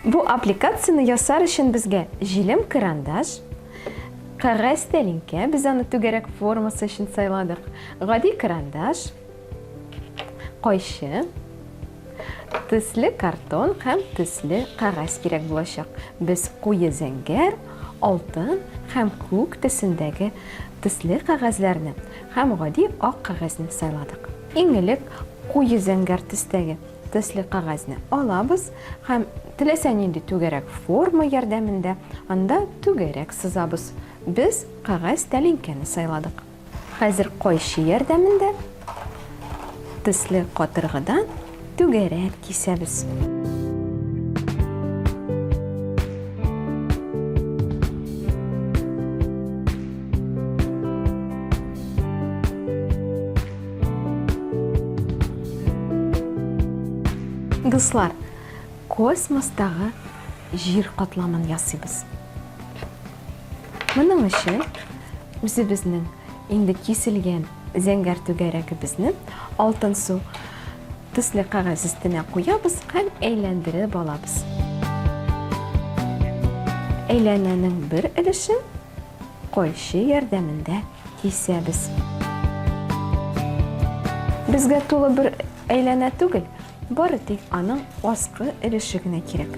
Бу аппликацияне ясар өчен безгә җилем карандаш, кәгазь тәлинкә, без аны түгәрәк формасы өчен сайладык, гади карандаш, кайчы, Төсле картон һәм төсле кәгазь кирәк булачак. Без куе зәңгәр, алтын һәм күк төсендәге төсле кәгазьләрне һәм гади ак кәгазьне сайладык. Иң элек куе зәңгәр төстәге төсле кәгазьне алабыз һәм теләсә нинди түгәрәк форма ярдәмендә анда түгәрәк сызабыз. Без кәгазь тәлинкәне сайладык. Хәзер кайчы ярдәмендә төсле катыргыдан түгәрәк кисәбез. Дуслар, космостагы җир катламын ясыйбыз. Моның өчен үзебезнең инде киселгән зәңгәр түгәрәгебезне алтын су төсле кәгазь өстенә куябыз һәм әйләндереп алабыз. Әйләнәнең бер өлешен койчы ярдәмендә кисәбез. Безгә тулы бер әйләнә түгел, Бары тик аның аскы өлеше генә кирәк.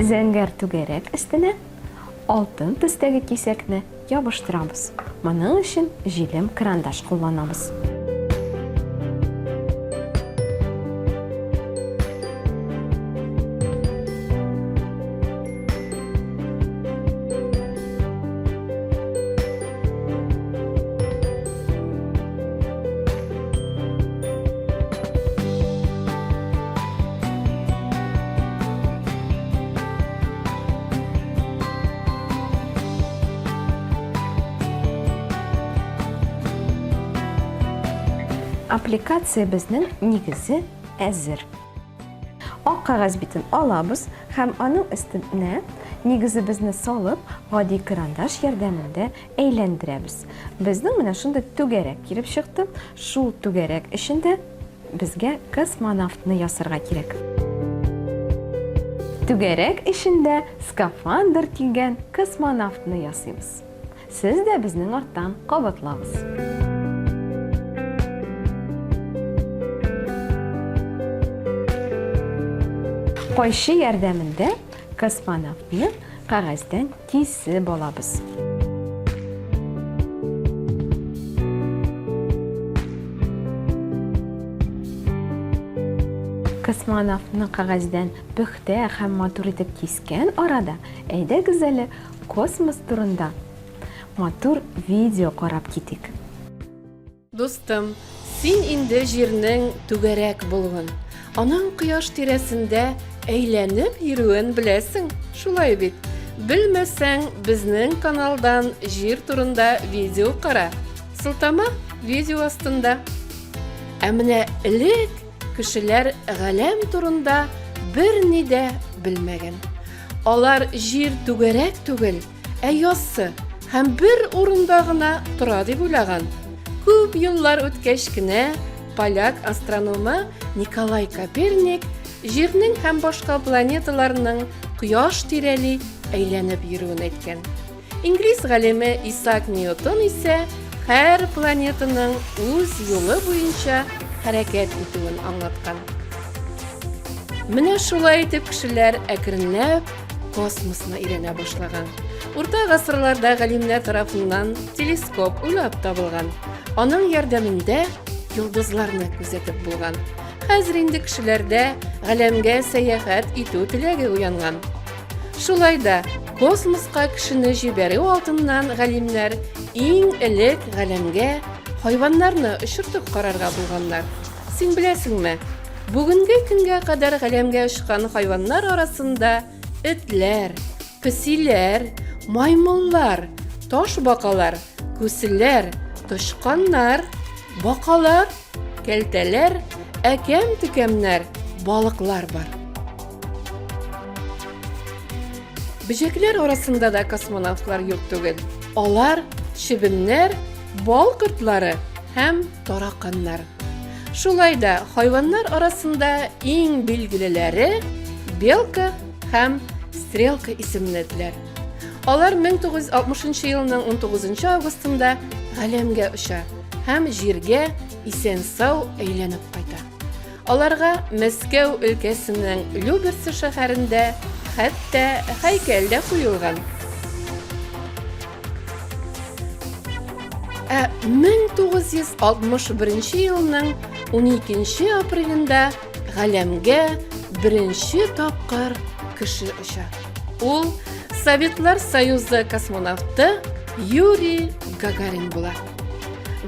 Зәңгәр түгәрәк өстенә алтын төстәге кисәкне ябыштырабыз. Моның өчен җилем карандаш кулланабыз. Аппликациябезнең нигезе әзер. Ак кагаз битен алабыз һәм аның өстенә нигезебезне салып, гади карандаш ярдәмендә Әйләндерәбез. Безнең менә шундый түгәрәк килеп чыкты. Шул түгәрәк эчендә безгә космонавтны ясарга кирәк. Түгәрәк эчендә скафандр килгән космонавтны ясыйбыз. Сез дә безнең арттан кабатлагыз. Кайчы ярдәмендә космонавтны кәгазьдән Тисе балабыз. Космонавтны кагәздән пөхтә һәм матур итеп кискән арада, әйдәгез әле космос турында матур видео карап китик. Дустым, син инде җирнең түгәрәк булуын, аның кояш тирәсендә әйләнеп йөрүен беләсең, шулай бит? Белмәсәң, безнең каналдан җир турында видео кара. Сылтама видео астында. Ә менә элек кешеләр галәм турында берни дә белмәгән. Алар җир түгәрәк түгел, Ә яссы һәм бер урында гына тора дип уйлаган. Күп еллар үткәч кенә поляк астрономы Николай Коперник Җирнең һәм башка планеталарның кояш тирәли әйләнеп йөрүен әйткән. Инглиз галиме Исаак Ньютон исә һәр планетаның үз юлы буенча хәрәкәт итүен аңлаткан. Менә шулай итеп кешеләр әкренләп космосны өйрәнә башлаган. Урта гасырларда галимнәр тарафыннан телескоп уйлап табылган. Аның ярдәмендә йолдызларны күзәтеп булган. Хәзер инде кешеләрдә галәмгә сәяхәт итү теләге уянган. Шулай да космоска кешене җибәрү алдыннан галимнәр иң элек галәмгә хайваннарны очыртып карарга булганнар. Син беләсеңме, бүгенге көнгә кадәр галәмгә очкан хайваннар арасында этләр, песиләр, маймыллар, таш бакалар, күселәр, тычканнар, бакалар, кәлтәләр, әкәм-төкәмнәр, балыклар бар. Бөҗәкләр арасында да космонавтлар юк түгел. Алар чебеннәр, Бал кортлары һәм тараканнар. Шулай да хайваннар арасында иң билгелеләре белка һәм стрелка исемле этләр. Алар 1960 елның 19 августында галәмгә оча һәм җиргә исән-сау әйләнеп кайта. Аларга Мәскәү өлкәсенең Люберцы шәһәрендә хәтта һәйкәл дә куелган. Ә 1961 елның 12 апрелендә галәмгә беренче тапкыр кеше оча. Ул Советлар Союзы космонавты Юрий Гагарин була.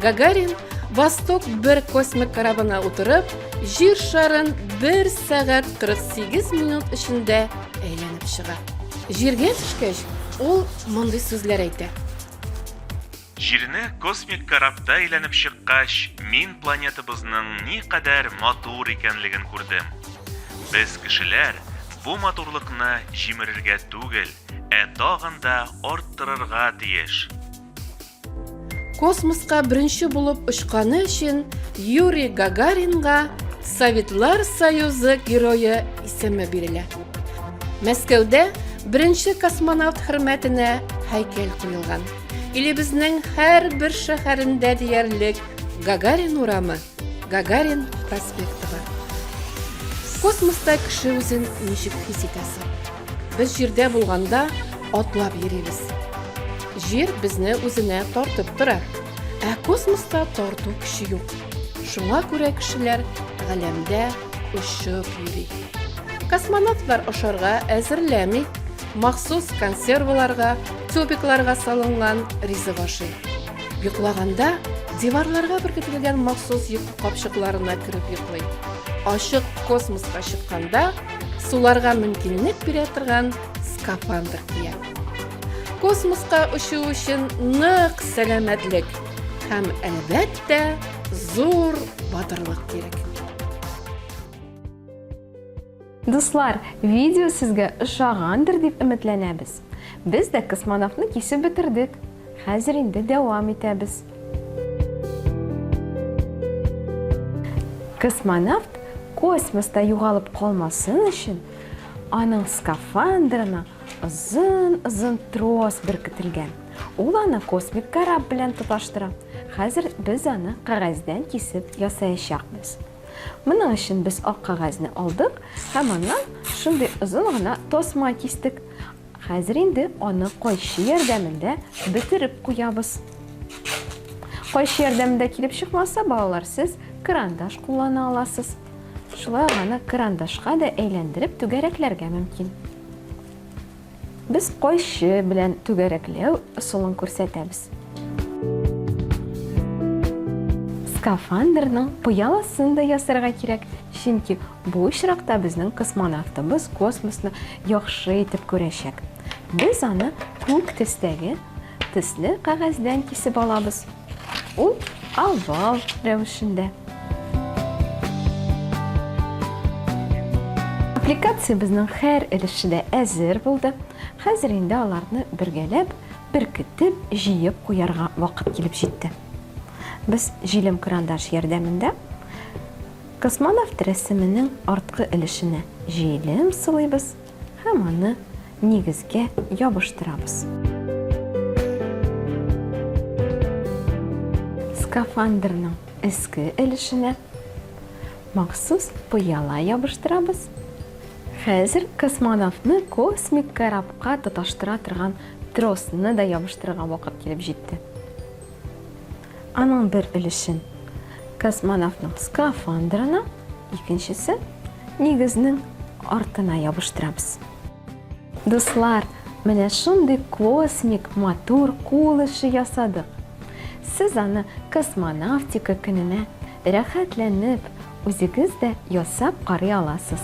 Гагарин Восток бер космик корабына утырып, җир шарын 1 сәгать 48 минут эчендә әйләнеп чыга. Җиргә төшкәч, ул мондый сүзләр әйтә. Җирне космик корабта әйләнеп чыккач, мин планетабызның никадәр матур икәнлеген күрдем. Без кешеләр бу матурлыкны җимерергә түгел, ә тагын да арттырырга тиеш. Космоска беренче булып очканы өчен Юрий Гагаринга Советлар Союзы герое исеме бирелә. Мәскәүдә беренче космонавт хөрмәтенә һәйкәл куелган. Илебезнең һәр бер шәһәрендә диярлек Гагарин урамы, Гагарин проспекты бар. Космоста кеше үзен ничек хис итәсе? Без җирдә булганда атлап йөрибез. Җир безне үзенә тартып тора. Ә космоста тарту көче юк. Шуңа күрә кешеләр галәмдә очып йөри. Космонавтлар ашарга әзерләми, махсус консерваларга, тюбикларга салынган ризык ашый. Йоклаганда диварларга беркетелгән махсус йокы капчыкларына кереп йоклый. Ачык космоска чыкканда суларга мөмкинлек бирә торган скафандр кия. Космоска очу өчен нык сәламәтлек һәм әлбәттә зур батырлык кирәк. Дуслар, видео сезгә ошагандыр дип өметләнәбез. Без дә космонавтны кисеп бетердек. Хәзер инде дәвам итәбез. Космонавт космоста югалып калмасын өчен, аның скафандрына озын-озын трос беркетелгән. Ул аны космик кораб белән тоташтыра. Хәзер без аны кәгазьдән кисеп ясаячакбыз. Моның өчен без ак кәгазьне алдык һәм аннан шундый озын гына тасма кистек. Хәзер инде аны кайчы ярдәмендә бетереп куябыз. Кайчы ярдәмендә килеп чыкмаса, балалар, сез крандаш куллана аласыз. Шулай ук аны крандашка да әйләндереп түгәрәкләргә мөмкин. Без кайчы белән түгәрәкләү ысулын күрсәтәбез. Скафандрның пыяласын да ясарга кирәк, чөнки Бу очракта безнең космонавтыбыз космосны яхшы итеп күрәчәк. Без аны күк төстәге төсле кәгазьдән кисеп алабыз. Ул овал рәвешендә. Аппликациябезнең һәр өлеше дә әзер булды. Хәзер инде аларны бергәләп, беркетеп, җыеп куярга вакыт килеп җитте. Без җилем-крандаш ярдәмендә Космонавт рәсеменең арткы өлешенә җилем сылыйбыз һәм аны нигезгә ябыштырабыз. Скафандрның өске өлешенә махсус пыяла ябыштырабыз. Хәзер космонавтны космик корабка тоташтыра торган тросны да ябыштырырга вакыт килеп җитте. Аның бер өлешен космонавтның скафандрына, икенчесен нигезнең артына ябыштырабыз. Дуслар, менә шундый космик матур кул эше ясадык. Сез аны космонавтика көненә рәхәтләнеп, үзегез дә ясап карый аласыз.